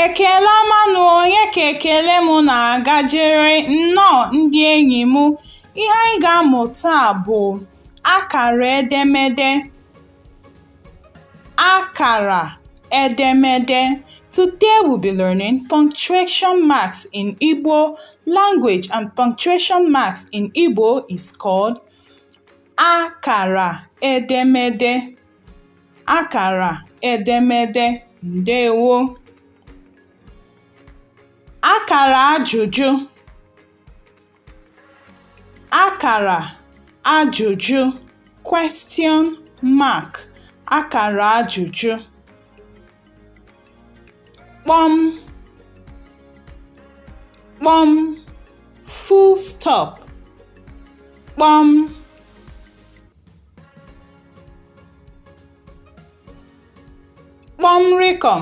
Ekele ọma nụ onye ka ekele m na-agajere nnọọ ndị enyi m. Ihe anyị ga-amụ taa bụ akara edemede. Akara edemede Today we'll be learning punctuation marks in Igbo language and punctuation marks in Igbo is called akara edemede. Akara edemede ndewo. Akara ajụjụ Akara ajụjụ question mark akara ajụjụ kpọm kpọm full stop kpọm kpọm rịkọm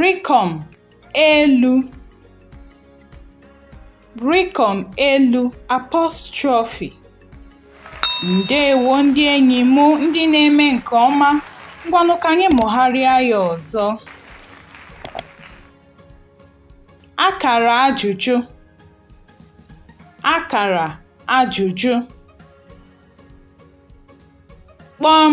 rịkọm elu rịkọm elu apostrophe ndewo ndị enyi m ndị na-eme nke ọma ngwanụ ka anyị mụgharịa ya ọzọ akara ajụjụ akara ajụjụ kpọm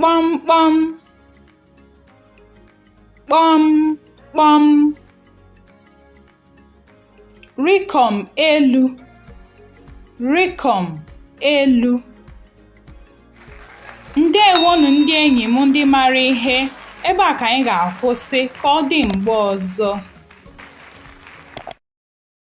kpọmkpọm kpọmkpọm rịkọm elu rịkọm elu ndewonụ ndị enyi m ndị mara ihe ebe a ka anyị ga-akwụsị ka ọ dị mgbe ọzọ